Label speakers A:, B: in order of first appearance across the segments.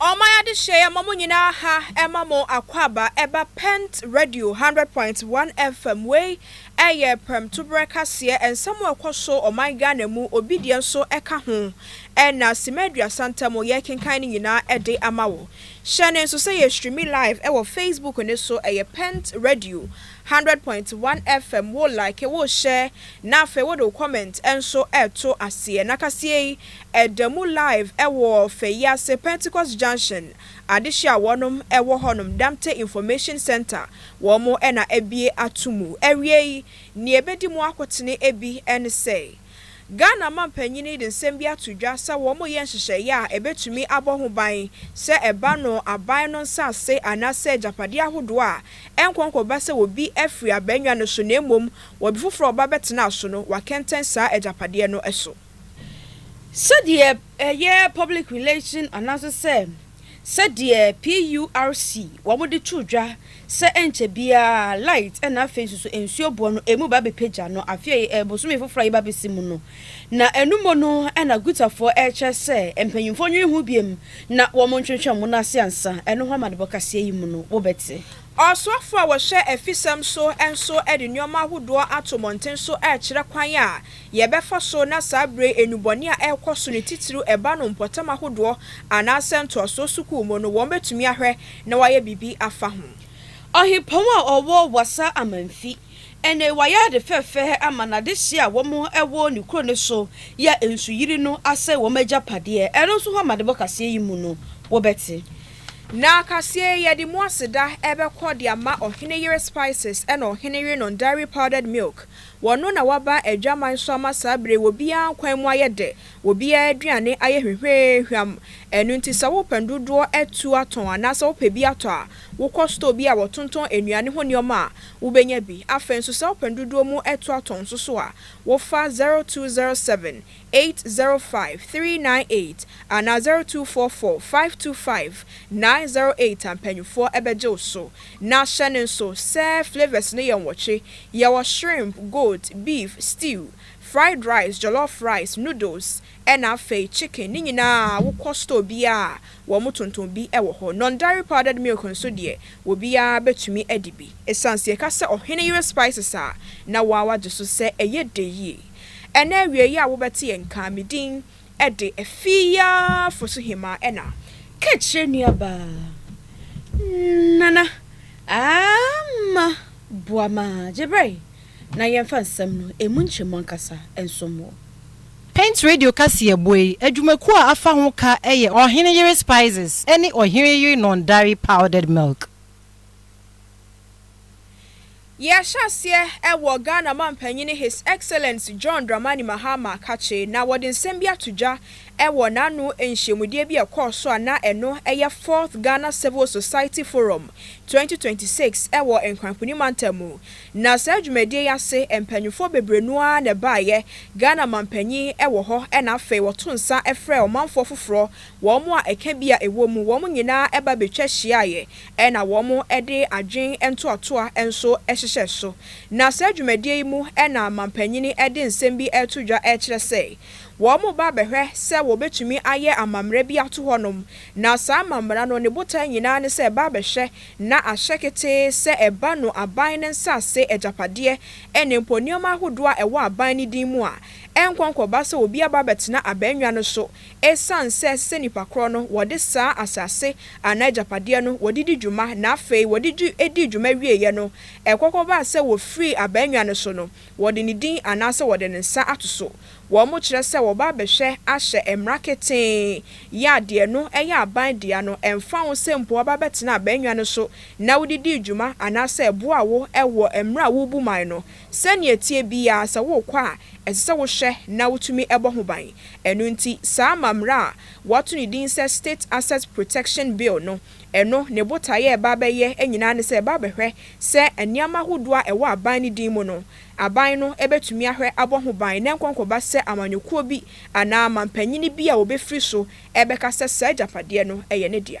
A: Ɔma yɛade hyɛ yɛ ma mo nyinaa ha ɛma mo akwaaba ɛba pent radio hundred point one FM wei ɛyɛ prɛmtoberɛ kaseɛ ɛnsɛm a ɛkɔ so ɔman Ghana mu obi deɛ nso ɛka ho ɛna simɛ aduasa ntɛm yɛrekenkan no nyinaa ɛde ama wo hyɛ no nso sɛ yɛ streami live ɛwɔ facebook no so ɛyɛ pent radio Hundred point one FM wo like wo share na afei wode wo comment nso ɛto aseɛ na kaseɛ yi ɛda mu live ɛwɔ Fɛyiase Pentecost Junction adehyeɛ a wɔnom ɛwɔ hɔnom Damte Information Centre wɔn na abue ato mu. Awiei neɛ ɛbɛdi mu akotene bi ɛne sɛ. Ghana mampanyin yi de nsɛm bi ato dwa sɛ wɔreyɛ nhyehyɛe a ebetumi abɔ ho ban sɛ ɛba no aban no nsase anaasɛ agyapade ahodoɔ a ɛnkɔ nkɔba sɛ obi afiri abaannwa no so na mmom obi foforɔ a ɔba bɛtenaa so no wakɛntɛn saa agyapadeɛ no so.
B: Sɛdeɛ ɛyɛ public relation anaasɛ sɛ. sɛdeɛ PURC wɔn de too dwa sɛ ɛnkyɛ biara light na afei nso so nsuo boɔ no ɛmu ba bɛpagya no afei ɛɛ bosome foforɔ a yɛba bɛsi mu no na ɛno mu no na Gutafoɔ ɛrekyerɛ sɛ mpanyinfoɔ nwene ho biom na wɔn ntwentwɛn wɔn ase ansa ɛno ho amanebɔ kaseɛ yi mu no wo bɛte. Ɔsoafoɔ a
A: wɔhwɛ afisɛm so nso de nnoɔma ahodoɔ ato mmɔnten so ɛrekyerɛ kwan a yɛbɛfa so na saa bere nnubɔne a ɛrekɔ so no titiriw ɛba no mpɔtam ahodoɔ anaasɛ ntoasoɔ sukuu mu no wɔbɛtumi ahwɛ na wɔayɛ biribi afa ho. Ɔhempɔn a
B: ɔwɔ Wassa Amanfi ɛne wayɛ ade fɛfɛɛ ama n'adehyeɛ a wɔn ɛwɔ ne kuro no so yɛ nsuyiri no asɛe wɔn agyapadeɛ ɛno nso ho amanebɔ kaseɛ yi mu no wobɛte. Na
A: kaseɛ yi yɛde mu aseda ɛbɛkɔ de ama Ɔhene Yere Spices ɛna Ɔhene Yerenom Dairy Powdered Milk Wɔno na waba adwaman so ama saa bere yi, obiara nkwan mu ayɛ dɛ, obiara aduane ayɛ hwehweehwam. Ɛno nti sɛ wopɛ ndodoɔ atu atɔn anaasɛ wopɛ bi atɔ a, wokɔ store bi a wɔtontɔn nnuane ho nneɛma a, wobɛnya bi. Afei nso sɛ wopɛ ndodoɔ mu atu atɔn nso so a, wofa 0207 eight zero five three nine eight anaa zero two four four five two five nine zero eight a mpanyinfoɔ bɛgye wo so. Na hyɛ no nso sɛ flavours no yɛ nwɔtwe, yɛwɔ shrimp, goat, beef, stew, fried rice, jollof rice, noodles ɛna afei chicken ne nyinaa wokɔ store biara a wɔn tontɔn bi wɔ hɔ. Non dairy powdered milk nso deɛ obiara bɛtumi adi bi. Ɛsiane sɛ yɛka sɛ ɔhene yere spices a na woa wagye so sɛ ɛyɛ dɛ yie. Ɛna awiei a wobɛte yɛn nka me din de afi yi ara fo so hemmaa Ɛna ka kyerɛ
B: nuabaa Nana Ama boa ma gye bere na yɛmfa nsɛm no emu nkyɛmu ankasa nsom wo. Paint
C: Radio kaseɛbɔ yi adwumakuo a afa ho ka yɛ Ɔhene Yere Spices ne Ɔhene Yere Nɔndare Powdered Milk.
A: Yɛahyɛaseɛ wɔ Ghana Mampanyini His Excellence John Dramani Mahama kakye na wɔde nsɛm bi ato dwa wɔ n'ano nhyiamudeɛ bi a ɛkɔɔ so a na ɛno yɛ Fourth Ghana Civil Society Forum 2026 wɔ Nkrankoni Mantam mu na saa dwumadie yi ase mpaninfoɔ bebrenu ara na ɛbaeɛ Ghana Mampanyin wɔ hɔ na afei wɔto nsa frɛɛ ɔmanfoɔ foforɔ wɔn a ɛka bi a ɛwɔ mu wɔn nyinaa ba bɛtwa hyiaeɛ na wɔde adwene ntoatoa nso hyehyɛ so. Na saa dwumadie yi mu na manpanyin de nsɛm bi reto dwa rekyerɛ sɛ wɔreba abɛhwɛ sɛ wɔbɛtumi ayɛ amammara bi ato hɔnom. Na saa amammara no ne botae nyinaa ne sɛ ɛba abɛhwɛ na ahyɛ ketee sɛ ɛba no aban no nsase agyapadeɛ ne mpo nneɛma ahodoɔ a ɛwɔ aban no din mu a ɛnkɔ nkɔba sɛ obi aba abɛtena abannwa no so Esiane sɛ ɛsɛ sɛ nnipa korɔ no wɔde saa asase anaa agyapadeɛ no wɔde di dwuma na afei wɔde di dii dwuma wieeɛ no, ɛkɔ kɔbaa sɛ wɔfirii abannwa no so no, wɔde ne din anaasɛ wɔde ne nsa ato so. Wɔkyerɛ sɛ wɔba abɛhwɛ ahyɛ mmara ketee yɛ a deɛ ɛno yɛ aban dea no, ɛmfa ho sɛ mpo wɔaba abɛtena abannwa no so na wode dii dwuma anaasɛ ɛboaa wo wɔ mmerɛ a worebu man no. Sɛnea ɛteɛ biara, sɛ worekɔ a, ɛsɛ sɛ wohwɛ na wutumi bɔ ho ban. Ɛno nti, saa amammerɛ a wɔato ne din sɛ State Asset Protection Bill no, ɛno ne botae a ɛba abɛyɛ nyinaa ne sɛ ɛba abɛhwɛ sɛ nneɛma ahodoɔ a ɛwɔ aban no din mu no, aban no bɛtumi ahwɛ abɔ ho ban na ɛnkɔnkɔba sɛ amanyɔkuo bi anaa mampanin bi a wɔbɛfiri so bɛka sɛ saa agyapadeɛ no yɛ ne dea.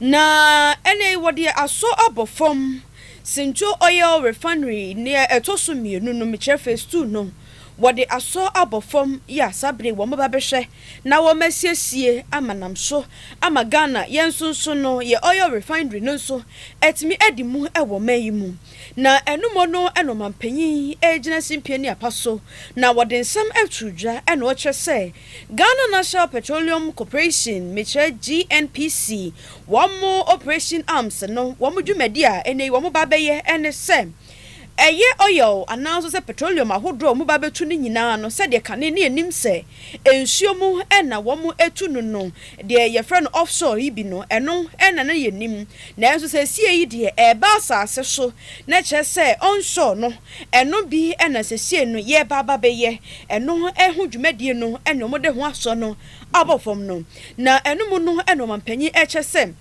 B: Na ɛnnɛ yi wɔde asɔ abɔ fam. Sintjo Oil Refinery nea ɛtɔ so mmienu no, mekyerɛ phase two no, wɔde asɔ abɔ fam yɛ a saa bere yi wɔbɛba abɛhwɛ na wɔasiesie ama nam so ama Ghana. Yɛn nso nso no, yɛn oil refinery no nso atumi adi mu wɔ ɔman yi mu. Na ɛno mmɔ no na ɔmampanyin regyina simpie ne apa so na wɔde nsɛm ato dwa na ɔrekyerɛ sɛ Ghana National Petroleum Corporation, mekyerɛ GNPC, wɔn Operation Arms no wɔn dwumadi a ɛnnɛ yi wɔba abɛyɛ ne sɛ, ɛyɛ oil anaa nso sɛ petroleum ahodoɔ a wɔba abɛtu no nyinaa no, sɛdeɛ kane no yɛnim sɛ nsuo mu na wɔtu no no, deɛ yɛfrɛ no offshore yi bi no, ɛno na na yɛnim. Nanso seesei yi deɛ, ɛreba asase so, na kyerɛ sɛ onshore no, Ɛno bi na sesie no yɛreba aba bɛyɛ ɛno ho dwumadie no ne wɔn de ho asɔ no aba fam no. Na ɛno mu no na ɔmanpanyin ɛkyɛ sɛ,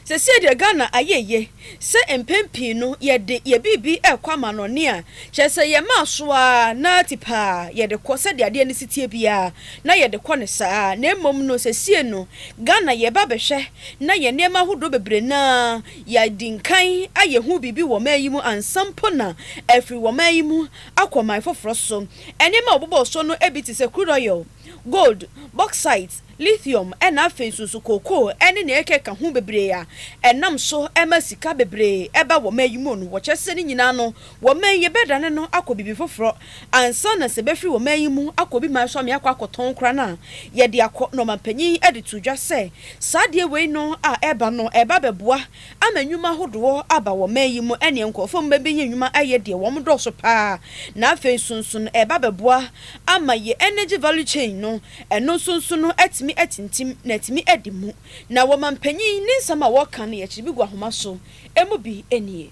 B: sesie deɛ Ghana ayɛ yie sɛ mpɛn pii no yɛde yɛ biribi ɛkɔ amanɔne a, kyerɛ sɛ yɛma aso ara na tipaa yɛde kɔ sɛdeɛ adeɛ no si teɛ biara na yɛde kɔ no saa. Na mmom no sesie no Ghana yɛreba abɛhwɛ na yɛn nneɛma ahodoɔ bebree no ara Yɛadi nkan ayɛ ho biribi wɔ ɔman yi mu ansa mpo na afiri wɔ ɔman yi mu akɔ ɔman foforɔ so. Nneɛma a wɔbobɔɔ so no bi te sɛ crude oil, gold, bauxite, lithium, na afei nso nso kookoo ne nea ɛkeka ho bebree a ɛnam so ma sika bebree ba wɔ ɔman yi mu no, wɔkyerɛ sɛ ne nyinaa no Wɔ man yi yɛbɛdane no akɔ biribi foforɔ ansa na sɛ bɛfiri wɔ man yi mu akɔ obi man so amee akɔ akɔtɔn koraa no a yɛde akɔ na ɔmanpanyin de too dwa sɛ saa adeɛ wei no a ɛreba no ɛreba abɛboa ama nnwuma ahodoɔ aba wɔ man yi mu ɛneɛ nkorɔfoɔ mu bɛbɛnya nnwuma ayɛ deɛ wɔn dɔɔso paa na afei nso nso no ɛreba abɛboa ama yɛ energy value chain no ɛno nso nso no atumi atintim na atumi adi mu na wɔmanpanyin ne nsɛm a wɔka no yɛkyere bi gu ahoma so ɛmu bi nie.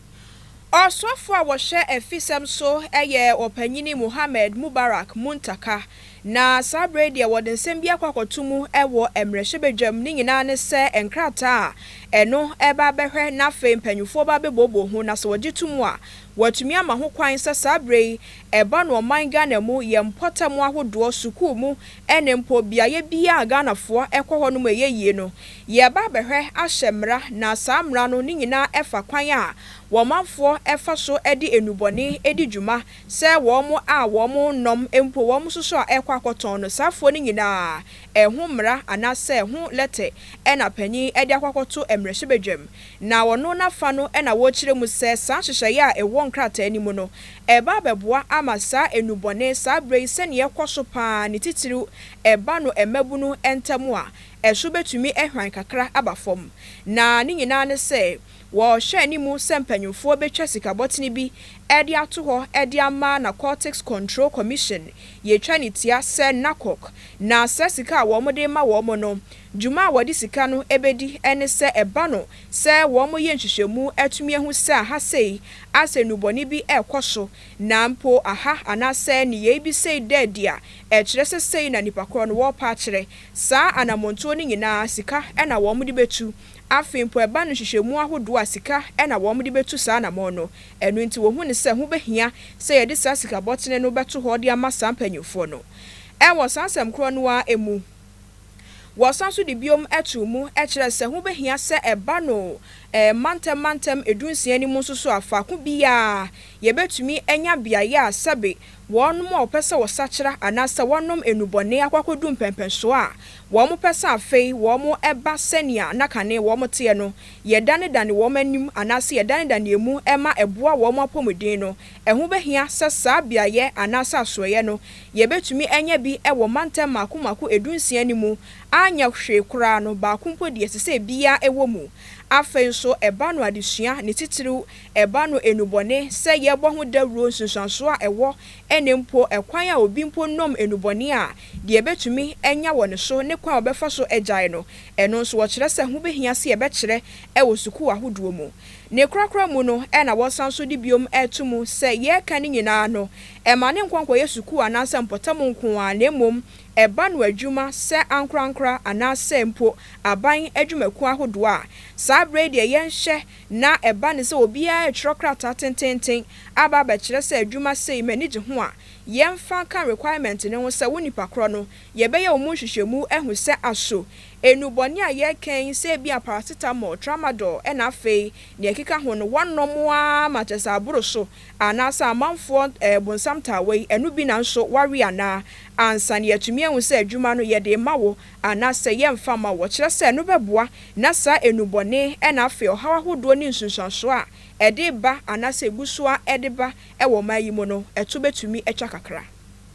A: Ɔsɔfo a wɔhwɛ afisɛm so yɛ Ɔpanyin Mohammed Mubarak Muntaka, na saa bere yi deɛ wɔde nsɛm bi akɔ akɔto mu wɔ mmrahyɛbadwam, ne nyinaa ne sɛ nkrataa a ɛno reba abɛhwɛ na afei mpanyimfoɔ ba abɛbooboo ho na sɛ wɔgye tom a wɔatumi ama ho kwan sɛ saa bere yi ɛba no ɔman Ghana mu yɛ mpɔtam ahodoɔ, sukuu mu Ɛne mpo beaeɛ biara a Ghanafoɔ kɔ hɔ nom a ɛyɛ yie no, yɛreba abɛhwɛ ahyɛ mmara na saa mmara no ne nyinaa fa kwan a wɔn manfoɔ fa so de nnubɔne di dwuma sɛ wɔn a wɔn nnɔm mpo wɔn nsoso a ɛrekɔ akɔtɔn no saa afuo no nyinaa ɛho mmara anaasɛ ho lɛtɛ na panin de akɔ akɔto mmarahyɛbadwam na ɔno n'afa no na wɔrekyerɛ mu sɛ saa nhyehyɛeɛ a ɛwɔ nkrataa no mu no Ɛreba abɛboa ama saa nnubɔne saa berɛ yi sɛnea ɛkɔ so pa ara ne titiriw ɛba no mmabunu ntam a, ɛso bɛtumi ahwan kakra aba fam. Na ne nyinaa ne sɛ wɔrehwɛ anim sɛ mpanimfoɔ bɛtwa sikabɔtene bi de ato hɔ de ama Narcotics Control Commission, yɛtwa no tia sɛ NACOC, na saa sika a wɔde rema wɔn no, Dwuma a wɔde sika no bedi ne sɛ ɛba no sɛ wɔyɛ nhwehwɛmu atumi ahu sɛ aha sei asɛ nnubɔne bi rekɔ so, na mpo aha anaasɛ nneyɛe bi sei da adi a ɛkyerɛ sɛ sei na nnipa korɔ no wɔrepɛ akyerɛ. Saa anammɔntuo no nyinaa sika na wɔde bɛtu. Afei mpo ɛba no nhwehwɛmu ahodoɔ a sika na wɔde bɛtu saa anammɔn no. Ɛno nti wɔhu no sɛ ho bɛhia sɛ yɛde saa sikabɔtene no bɛto hɔ de ama saa mpanyimfoɔ no. Wɔ saa asɛm korɔ no ara mu. Wɔsan nso de biom too mu kyerɛ sɛ ho behia sɛ ɛba no mantɛm mantɛm dunsia no mu nso so a faako biara yɛbetumi anya beae a sɛbe wɔnom a wɔpɛ sɛ wɔsakyera anaasɛ wɔnom nnubɔne akɔ akɔdu mpɛnpɛnsoɔ a wɔpɛ sɛ afei wɔba sɛnea na kane wɔteɛ no yɛdanedane wɔn anim anaasɛ yɛdanedane emu ma ɛboa wɔn apɔmuden no. Ɛho behia sɛ saa beaeɛ anaasɛ asoɛeɛ no yebetumi anya bi wɔ mantam mmaako mmaako dunsia no mu anyɛ hwee koraa no, baako mpo deɛ, ɛsɛ sɛ ebiara wɔ mu. Afei nso, ɛba no adesua, ne titiriw, ɛba no nnubɔne, sɛ yɛbɔ ho dawuro, nsunsuanso a ɛwɔ, ɛnna mpo ɛkwan a obi mpo nom nnubɔne a, deɛ ebetumi anya wɔ ne so, ne kwan a ɔbɛfa so agyae no. Ɛno nso, wɔkyerɛ sɛ ho behia sɛ yɛbɛkyerɛ wɔ sukuu ahodoɔ mu. Ne korakora mu no na wɔsan nso de biom to mu sɛ yɛreka ne nyinaa no, Ɛmma ne nkɔ nkɔyɛ sukuu anaasɛ mpɔtam nko ara na mmom ɛba no adwuma sɛ ankorankora anaasɛ mpo aban adwumakuo ahodoɔ a. Saa berɛ yi deɛ yɛnhwɛ na ɛba no sɛ obiara retwerɛ krataa tenteenten aba abɛkyerɛ sɛ adwuma sei m'ani gye ho a, yɛmfa nka requirement no ho sɛ wo nipa korɔ no yɛbɛyɛ wo mu nhwehwɛmu ahu sɛ aso nnubɔne a yɛreka yi sɛ ebia paracetamol, tramadol na afei deɛ ɛkeka ho no wɔnnom ara ma kyerɛ sɛ aboro so. Anaasɛ amanfoɔ bonsam taa wei, ɛno bi na nso wawe anaa? Ansa na yɛatumi ahu sɛ adwuma no yɛde rema wo anaasɛ yɛremfa mma wo. Kyerɛ sɛ, ɛno bɛboa na saa nnubɔne na afei ɔhaw ahodoɔ ne nsunsuansoɔ a ɛde reba anaasɛ ɛgu so ara de ba wɔ ɔman yi mu no, ɛto bɛtumi atwa kakra.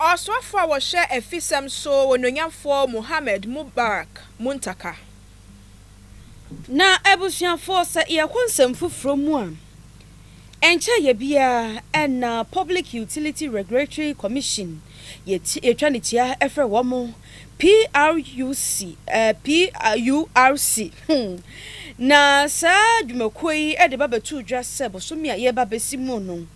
A: Ɔsoafoɔ a wɔhwɛ afisɛm so Onuonyamfoɔ Mohammed Mubarak Muntaka.
B: Na abusuafoɔ sɛ yɛkɔ nsɛm foforɔ mu a, ɛnkyɛ yɛ biara na Public Utility Regulatory Commission yɛtwa ne tua frɛ wɔn, PRUC, PURC, hmm, na saa dwumakuo yi de ba bɛtoo dwa sɛ bosome a yɛreba abɛsi mu no,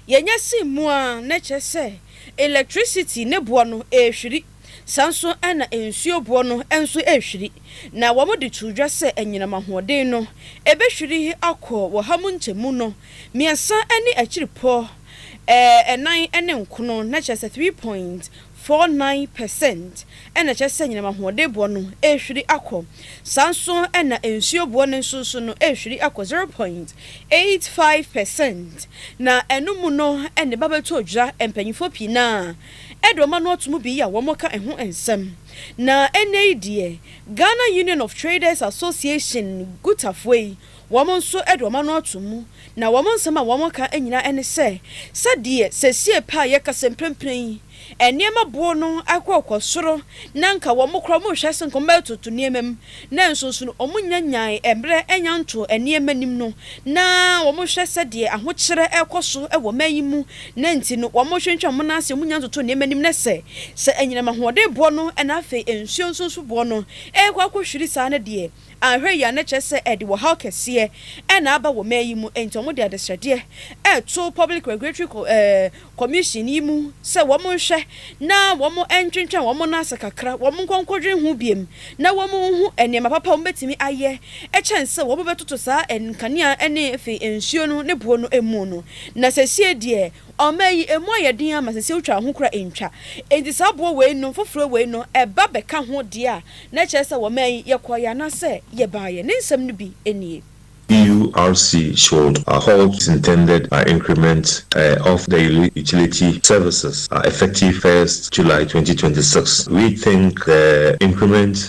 B: yɛnya sin mu a, na ɛkyerɛ sɛ elɛktrisiti ne boɔ no rehwiri. Saa nso na nsuo boɔ no nso rehwiri, na wɔde too dwa sɛ anyinam ahoɔden no bɛhwiri akɔ wɔ ha mu nkyɛmu no mmiɛnsa ne akyiripɔ ɛnan ne nkono, na kyerɛ sɛ three point four nine per cent na ɛkyerɛ sɛ anyinam ahoɔdenboɔ no rehwiri akɔ. Saa nso na nsuo boɔ no nso so no rehwiri akɔ zero point eight five per cent na ɛno mu no na ɛba bɛto odwira. Mpanyinfoɔ pii no ara de wɔn ano ato mu bi a wɔka ɛho nsɛm. Na ɛnnɛ yi deɛ Ghana Union of Traders Association, Gutafoɔ yi, Wɔn nso de wɔn ano ato mu, na wɔn nsɛm a wɔka nyinaa ne sɛ, Sɛdeɛ seesei pɛ a yɛka sɛ mprempren yi nneɛma boɔ no akɔkɔ soro, na anka wɔn koraa wɔhwɛ ase anka wɔbɛtoto nneɛma mu, nanso nso no wɔnyanyaae mmerɛ annya ntoo nneɛma anim no, na wɔhwɛ sɛdeɛ ahokyerɛ rekɔ so wɔ ɔman yi mu, na enti no wɔtwentwɛn wɔn nan ase, wɔnnya ntotoo nneɛma anim, na sɛ sɛ anyinam ahoɔden boɔ no na afei nsuo nso nso boɔ no rekɔ akɔhwiri saa no deɛ, Anhwɛ yie a na kyerɛ sɛ ɛde wɔhaw kɛseɛ na aba wɔ man yi mu, enti wɔde adesrɛdeɛ reto Public Regulatory Commission yi mu sɛ wɔnhwɛ na wɔntwentwɛn wɔn nan ase kakra, wɔnkɔ nkɔdwene ho bio na wɔnhu nneɛma papa a wɔbɛtumi ayɛ kyɛn sɛ wɔbɛtoto saa nkanea ne afei nsuo no ne boɔ no mu no. Na seesei deɛ. Ɔma yi, emu ayɛ den ara ma sɛ sɛ wotwa a, ho koraa entwa. Enti saa boɔ wei nom foforɔ wei no, ɛba bɛka ho deɛ a, na ɛkyerɛ sɛ wɔma yi, yɛkɔeɛ anaasɛ yɛbaeɛ. Ne nsɛm no bi nie. EURC
D: should halt its intended increment of the utility services effective first July twenty twenty six, rethink the increment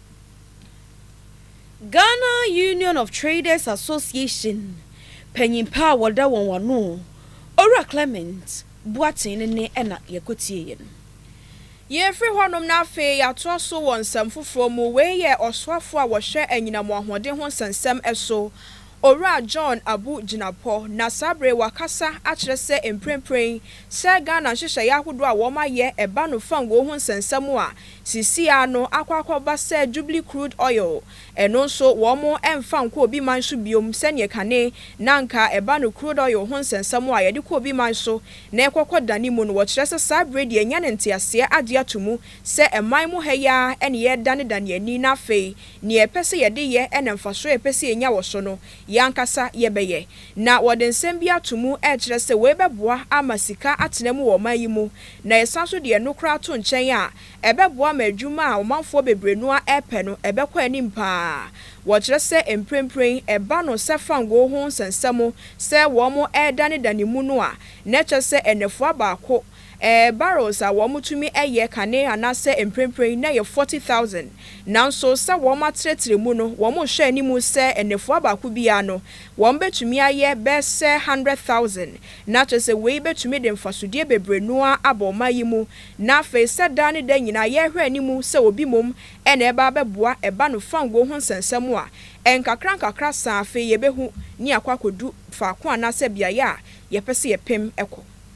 B: Ghana Union of Traders Association panyin pa a wɔda wɔn ano, Owura Clement Boateng no ne na yɛkɔtieeɛ no.
A: Yɛrefiri hɔnom na afei yɛatoa so wɔ nsɛm foforɔ mu, wei yɛ Ɔsoafoɔ a wɔhwɛ anyinam wɔ ahoɔden ho nsɛnsɛm so, Owura John Abu Jinapɔ, na saa berɛ yi wakasa akyerɛ sɛ mprempren sɛ Ghana nhyehyɛeɛ ahodoɔ a wɔayɛ ba no fanguo ho nsɛnsɛm a Seesei ara no akɔ akɔba sɛ Jubilee Crude Oil, ɛno nso wɔn mfa nkɔ obi man so biom sɛdeɛ kane na anka ɛba no crude oil ho nsɛnsɛm a yɛde kɔ obi man so na ɛkɔ kɔ dane mu no wɔkyerɛ sɛ saa berɛ deɛ yɛanya ne nteaseɛ agye ato mu sɛ ɛman mu ha yi ara na yɛredane dane ani na afei neɛ yɛpɛ sɛ yɛde yɛ na mfasoɔ a yɛpɛ sɛ yɛnya wɔ so no Yɛn ankasa yɛbɛyɛ. Ná wɔde nsɛm bi ato mu rekyerɛ sɛ wei bɛboa ama sika atena mu wɔ ɔman yi mu, na yɛsan nso de ɛno koraa to nkyɛn a, ɛbɛboa ma adwuma a ɔmanfoɔ bebree no ara repɛ no, ɛbɛkɔ anim pa ara. Wɔkyerɛ sɛ mprempren ɛba no sɛ fangoo ho nsɛnsɛm sɛ wɔredanedane mu no a, na ɛkyerɛ sɛ nnafua baako Ɛɛ, barrels a wɔtumi yɛ kane anaasɛ mprempren na ɛyɛ forty thousand. Nanso sɛ wɔatrɛtrɛ mu no, wɔhwɛ anim sɛ nnafua baako biara no, wɔbetumi ayɛ bɛsɛ hundred thousand. Ná kyerɛ sɛ wei betumi de mfasodeɛ bebree no ara aba ɔman yi mu. Ná afei sɛ daa ne da nyinaa yɛhwɛ anim sɛ obi mmom na ɛreba abɛboa ɛba no fanguo ho nsɛnsɛm a, nkakrankakra saa afei yɛbɛhu ne akɔ akɔdu faako anaasɛ beaeɛ a yɛpɛ sɛ yɛpem kɔ.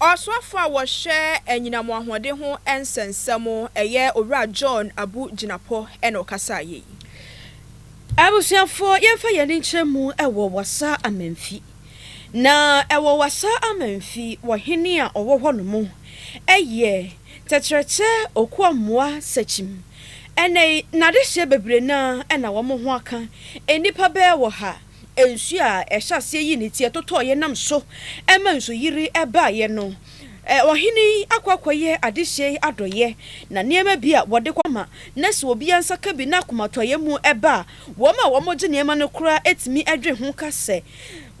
A: Ɔsoafo a wɔhwɛ anyinam ahoɔden ho nsɛnsɛm, ɛyɛ Owura John Abu Jinapor na ɔkasaeɛ yi. Abusuafoɔ,
B: yɛmfa yɛn ani nkyerɛ mu wɔ Wassa Amanfi. Na wɔ Wassa Amanfi, ɔhene a ɔwɔ hɔnom yɛ Tɛkyerɛkyɛ Okuamoa Sekyim. Ɛnnɛ yi, n'adehyeɛ bebree no ara na wɔn ho aka, nnipa bɛyɛ ɔha. nsu a ɛhyɛ aseɛ yii ne ti totɔɔ yɛn nam so ma nsuyiri baeɛ no. Ɔhene yi akɔ akɔyɛ adehyeɛ yi adɔeɛ, na nneɛma bi a wɔde kɔ ma na sɛ obiara nsa ka bi na akomatɔeɛ mu ba a, wɔn a wɔgye nneɛma no koraa tumi dwen ho ka sɛ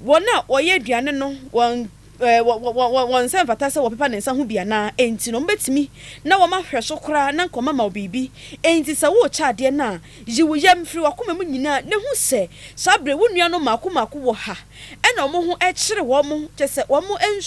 B: wɔn a wɔyɛ aduane no wɔn Wɔn nsa mfata sɛ wɔpepa ne nsa ho bi anaa? Enti no, wɔbɛtumi na wɔma nhwɛso koraa na anka wɔama wo biribi. Enti sɛ worekyɛ adeɛ no a, yi wo yam firi w'akoma mu nyinaa na hu sɛ saa berɛ yi wo nuanom mmaako mmaako wɔ ha na wɔn ho kyere wɔn, kyerɛ sɛ, wɔn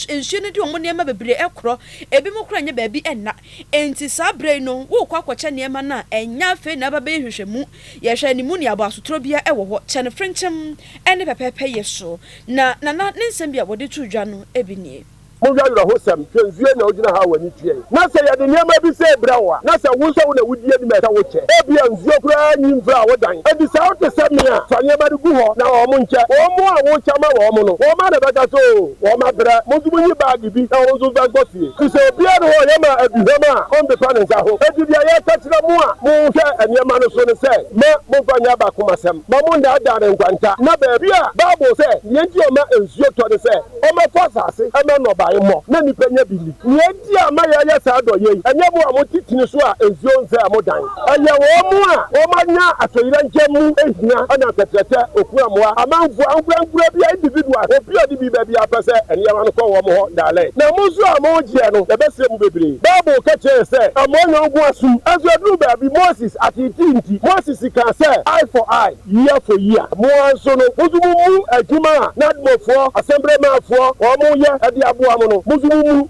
B: nsuo no de wɔn nneɛma bebree korɔ, ebinom koraa nyɛ baabi nna. Enti saa berɛ yi no worekɔ akɔkyɛ nneɛma no a, ɛnyɛ afei na ɛbɛba nhwehwɛmu. Yɛhwɛ ne mu nea aboasotorɔ biara wɔ hɔ kyɛn frenkyɛm ne pɛpɛɛpɛyɛ so. Na Nana ne nsɛm bi a wɔde too dwa no bi nie. Monhwɛ
E: awerɛhosɛm, hwɛ nsuo na wogyina ha a w'ani teɛ yi. Na sɛ yɛde nneɛma bi sɛ brɛ wo a, na sɛ wo nso wo na wodi anim a ɛsɛ wokyɛ. Ebia nsuo koraa nyi mfra a wodan adi saa wote sɛ me a, fa nneɛma no gu hɔ na wɔn nkyɛ. Wɔn a worekyɛ ama wɔn no, wɔn ara na ɛbɛka sɛ oo wɔn abrɛ. Mo nso monyi baage. biribi na wɔn nso nsan nkɔ fie. Te sɛ obiara nni hɔ a ɔyɛ ma aduhuam a ɔmpepa ne nsa ho. Enti nea yɛka kyerɛ mo a monhwɛ nneɛma no so ne sɛ, Mma momfa nyɛ abakomasɛm, mma monnaadaa ne nkwanta. Na baabi a Bible sɛ nea enti a ɔma nsuo tɔ ne sɛ ɔmmɛfɔ asase mma nnɔbae mmɔ na nnipa nya bi ni. Nea enti a ama yɛayɛ saa adɔyɛ yi, ɛnyɛ mo a mote tini so a nsuo nsɛe mo dan. Ɛyɛ wɔn a wɔanya atoyerɛnkyɛm mu hia na nsɛkyerɛkyɛ, okura mmoa, amanfo ankorankoro bi, individuals, obi a ɔde biriba biara pɛ sɛ nneɛma no kɔ wɔn hɔ dalɛn. Na mo nso a mogyeɛ no, yɛbɛsrɛ mu bebree. Bible ka kyerɛɛ sɛ, Amoa yɔnko asom. Nso ɛduruu baabi, Moses ateetee nti, Moses kaa sɛ, Eye for eye, year for year. Mo ara nso no, mo nso mommu adwuma a Nadmofoɔ, Asɛmberɛmaafoɔ, wɔn yɛ de aboa mo no, mo nso mommu.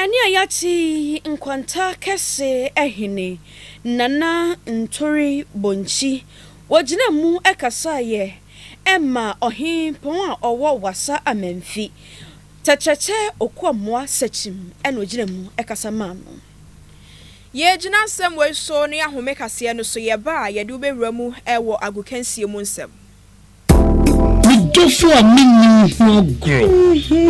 B: Ɛne a yɛate yi nkwanta kɛse ahene, Nana Ntore Bonkyi. Wɔgyinaa mu kasaeɛ ɛma ɔhempɔn a ɔwɔ Wassa Amanfi, Tɛkyɛkyɛ Okoamoa Sakyim na ɔgyinaa mu kasa maa no.
A: Yɛgyina nsɛm wei so ne ahome kaseɛ no so yɛba a yɛde wobɛwura mu wɔ agokansie mu nsɛm. Me dɔfo
F: a menni wo ho agorɔ.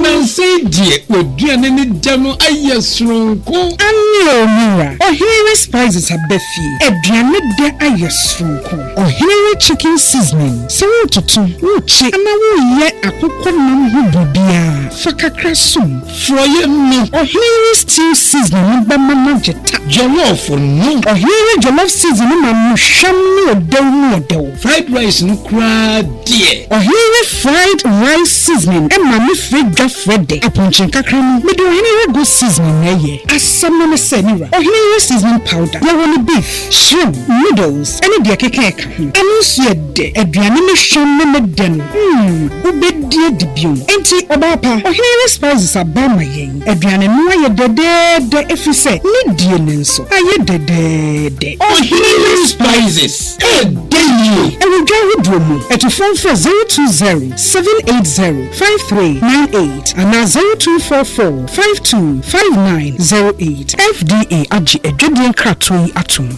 F: Nansa yi deɛ, w'aduane ne dɛ no ayɛ soronko. Aane o,
G: me wura. Ɔhene re spices aba fie. Aduane dɛ ayɛ soronko. Ɔhene re chicken seasoning. Sɛ woretoto, worekye anaa woreyɛ akokɔ nam ho biribiara, fa kakra som. Forɔeɛ no.
F: Ɔhene yi stew
G: seasoning no bɛma no agye ta. Jollof no.
F: Ɔhene yi jollof
G: seasoning no ma no hwam no ɔdɛw mu ɔdɛw. Fried rice no
F: koraa deɛ. Ɔhene yi fried
G: rice seasoning ma no frɛ dwa frɛ dɛ. Apɔnkye nkakra no. Mede ɔhene yi goat seasoning na ɛyɛ. Asɛm no ne sɛ, me wura, ɔhene yi seasoning powder, yɛwɔ no beef, shrimp, noodles, ne deɛ ɛkeka ɛka. Ɛno nso yɛ dɛ. Aduane no hwam ne ne dɛ no, mm, wobɛdi adi bio. Enti, ɔbaa pa, Ɔhene Yere Spices aba ama yɛn. Aduane no ayɛ dɛdɛɛdɛ ɛfiri sɛ ne die no nso ayɛ dɛdɛɛdɛ. Ɔhene Yere
F: Spices, ɛɛdɛ yie! Ɛwɔ dwa ahodoɔ
G: mu. Atufoɔ mfrɛ zero two zero, seven eight zero, five three nine eight anaa zero two four four, Five two five nine zero eight, FDA agye adwadie nkratoɔ yi atom.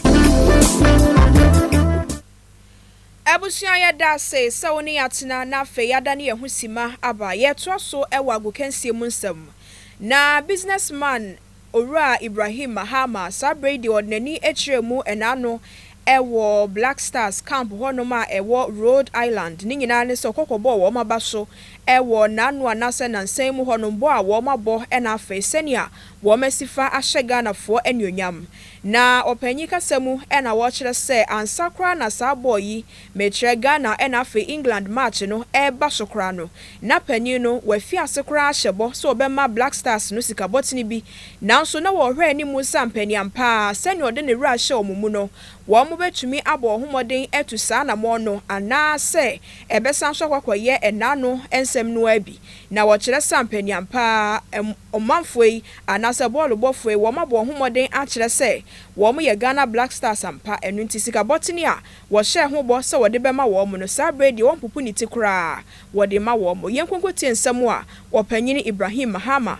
A: Abusua yɛda ase sɛ wo ne yɛn atena na afei yɛadane yɛn ho simma aba. Yɛretoa so wɔ agokansie mu nsɛm. Na business man Owura Ibrahim Mahama saa berɛ yi deɛ ɔde n'ani kyerɛɛ mu ɛna ano wɔ Black Stars camp hɔnom a ɛwɔ Rhode Island, ne nyinaa ne sɛ ɔkɔ kɔbɔɔ wɔn aba so wɔ n'ano anaasɛ nansa yi mu hɔnom, bɔ a wɔn abɔ na afei sɛnea wɔn asi fa ahyɛ Ghanafoɔ anuonyam. Na ɔpanyin kasa mu na wɔkyerɛ sɛ ansa koraa na saa bɔɔ yi, mekyerɛ Ghana na afei England match no reba so koraa no, na panyin no wafi ase koraa ahyɛ bɔ sɛ ɔbɛma Black Stars no sikabɔtene bi Nanso na wɔhwɛ anim nsa mpanin ampa ara sɛnea ɔde ne werɛ ahyɛ wɔn mu no. Wɔbɛtumi abɔ wɔn ho mmɔden atu saa anammɔn no anaasɛ ɛbɛsan so akɔakɔyɛ ɛnã ano nsɛm no ara bi. Na wɔkyerɛ sɛ ampanin ampa ara, ɔmanfoɔ yi anaasɛ bɔɔlobɔfoɔ yi, wɔabɔ wɔn ho mmɔden akyerɛ sɛ wɔyɛ Ghana Black Stars ampa. Ɛno nti sika bɔtene a wɔhyɛɛ ho bɔ sɛ wɔde bɛma wɔn no, saa berɛ yi deɛ wɔmpopo ne ti koraa, wɔde ma wɔn. Yɛnkonkɔtie nsɛm a Ɔpanyin Ibrahim Mahama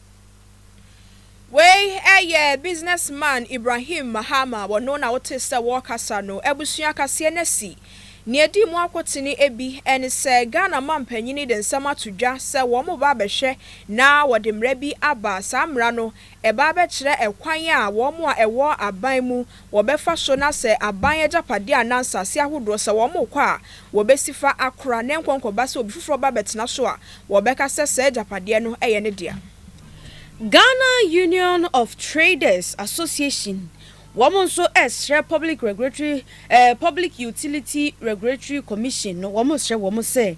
A: Wei yɛ Business Man Ibrahim Mahama, wɔno na wotee sɛ wɔrekasa no, abusua kaseɛ no asi. Nea edi mu akotene bi ne sɛ Ghana mampanin de nsɛm ato dwa sɛ wɔreba abɛhwɛ na wɔde mmara bi aba. Saa mmara no, ɛba abɛkyerɛ ɛkwan a wɔn a ɛwɔ aban mu wɔbɛfa so na sɛ aban agyapadeɛ anaa nsase ahodoɔ sɛ wɔkɔ a wɔbɛsi fa akora na nkɔnkɔba sɛ obi foforɔ ba bɛtena so a wɔbɛka sɛ saa agyapadeɛ no yɛ ne dea. Ghana
B: Union of Traders Association wɔn nso srɛ Public Regulatory eh, Public Utility Regulatory Commission no wɔn srɛ wɔn sɛ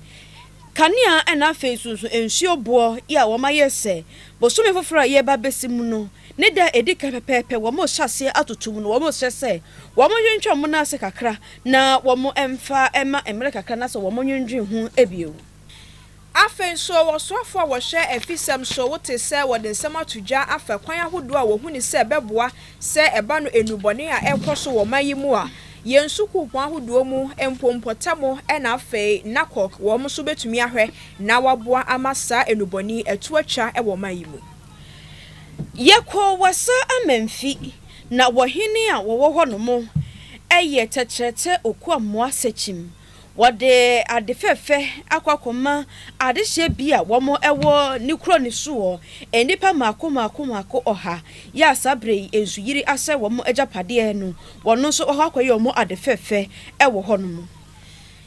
B: kanea ɛna afei nso nsuo boɔ yi a wɔayɛ sɛ bosome foforɔ a yɛreba abɛsi mu no Ne da a edi kan pɛpɛɛpɛ wɔrehyɛ aseɛ atoto mu no, wɔsrɛ sɛ wɔntwentwɛn wɔn nan ase kakra na wɔmfa mma mmere kakra na sɛ wɔnnwendwen ho bio. Afei
A: nso, wɔ soafo a wɔhwɛ afisɛm so, wote sɛ wɔde nsɛm ato dwa afa kwan ahodoɔ a wɔhu no sɛ ɛbɛboa sɛ ɛba no nnubɔne a ɛrekɔ so wɔ ɔman yi mu a yɛn sukuupɔn ahodoɔ mu mpo mpɔtam na afei NACOC wɔn nso bɛtumi ahwɛ na wɔaboa ama saa nnubɔne yi atu atwa wɔ ɔman yi mu.
B: Yɛkɔɔ Wassa Amanfi, na wɔ hene a wɔwɔ hɔ nom yɛ tɛtrɛtɛ Okwammoah Sekyim. Wɔde ade fɛfɛ akɔ akɔma adehyeɛ bi a wɔn wɔ ne kuro no so wɔ nnipa mmaako mmaako mmaako ɔha yɛ a saa berɛ yi nsuyiri asɛe wɔn agyapadeɛ no wɔn nso wɔakɔ akɔyɛ wɔn ade fɛfɛ wɔ hɔ nom.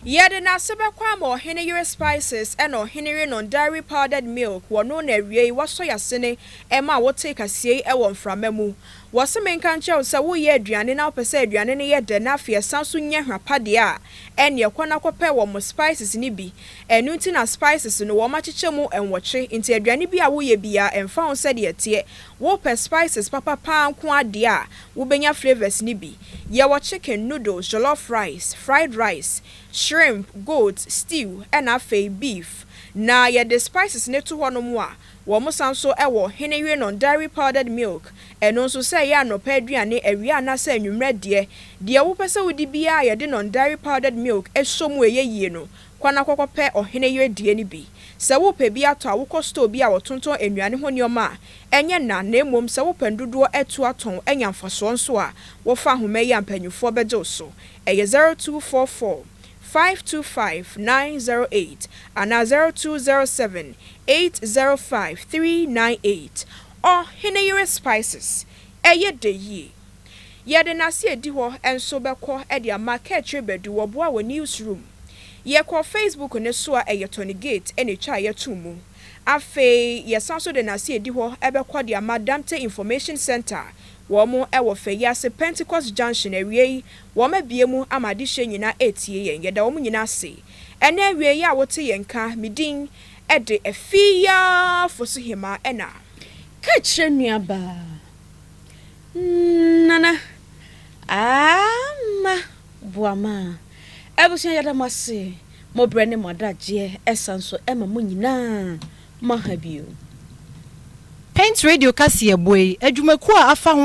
B: Yɛde
A: n'ase bɛkɔ ama ɔhene yere spices ɛna ɔhene yerenom dairy powdered milk wɔ no na awiei wɔsɔ y'asene ɛma a wotee kasiei ɛwɔ mframa mu. Wɔse menka nkyerɛ wo sɛ woyɛ aduane na wopɛ sɛ aduane no yɛ dɛ na afei ɛsan so nya hwa pa deɛ a, ɛneɛ kɔ na kɔpɛ wɔ mo spices no bi. Ɛno nti na spices no wɔn akyekyɛ mu nwɔtwe nti aduane bi a woyɛ biaa ɛmfa ho sɛdeɛ ɛteɛ wopɛ spices papa paa nko ara deɛ a Wobenya flavours no bi. Yɛwɔ chicken, noodles, jollof rice, fried rice, shrimp, goat, stew, ɛna afei beef. Na yɛde spices no to hɔnom a, wɔsan nso wɔ Hene Yenon dairy powdered milk, ɛno nso sɛ ɛyɛ anɔpa aduane, awia anaasɛ anwummerɛ deɛ, deɛ wopɛ sɛ wodi biara a yɛde non-dairy powdered milk sɔ mu ɛyɛ yie no, Kɔ na kɔkɔpɛ ɔhene yere deɛ no bi. Sɛ worepɛ bi atɔ a, wokɔ store bi a wɔtontɔn nnuane ho nneɛma a ɛnyɛ nã na mmom sɛ wopɛ ndodoɔ atu atɔn anya mfasoɔ nso a, wɔfa ahoma yi a mpanyimfoɔ bɛgye wo so. Ɛyɛ zero two four four, five two five, nine zero eight anaa zero two zero seven, eight zero five, three nine eight. Ɔhene yere spices, ɛyɛ dɛ yie. Yɛde n'ase adi hɔ nso bɛkɔ de ama Kaakyire Badu wɔboa wɔ newsroom. Yɛkɔ Facebook no so a ɛyɛ Tony Gate na etwa a yɛto mu. Afei yɛsan so de n'ase adi hɔ bɛkɔ de ama Damte Information Centre wɔn wɔ fɛ yi ase Pentecost Junction awiei wɔn abue mu ama adehyeɛ nyinaa retie yɛn. Yɛda wɔn nyinaa ase ɛnɛ awiei a wote yɛn nka. Me din de Afie Fosu Hemaa ɛna. Kaakyire
B: nuabaa. Nana Aama Boamaa abusua yɛda mo ase mo brɛ ne mo adagyeɛ ɛsan so ɛma mo nyinaa mo aha bio.
C: Paint
B: Radio
C: kaseɛbɔ yi adwumakuo a afa ho.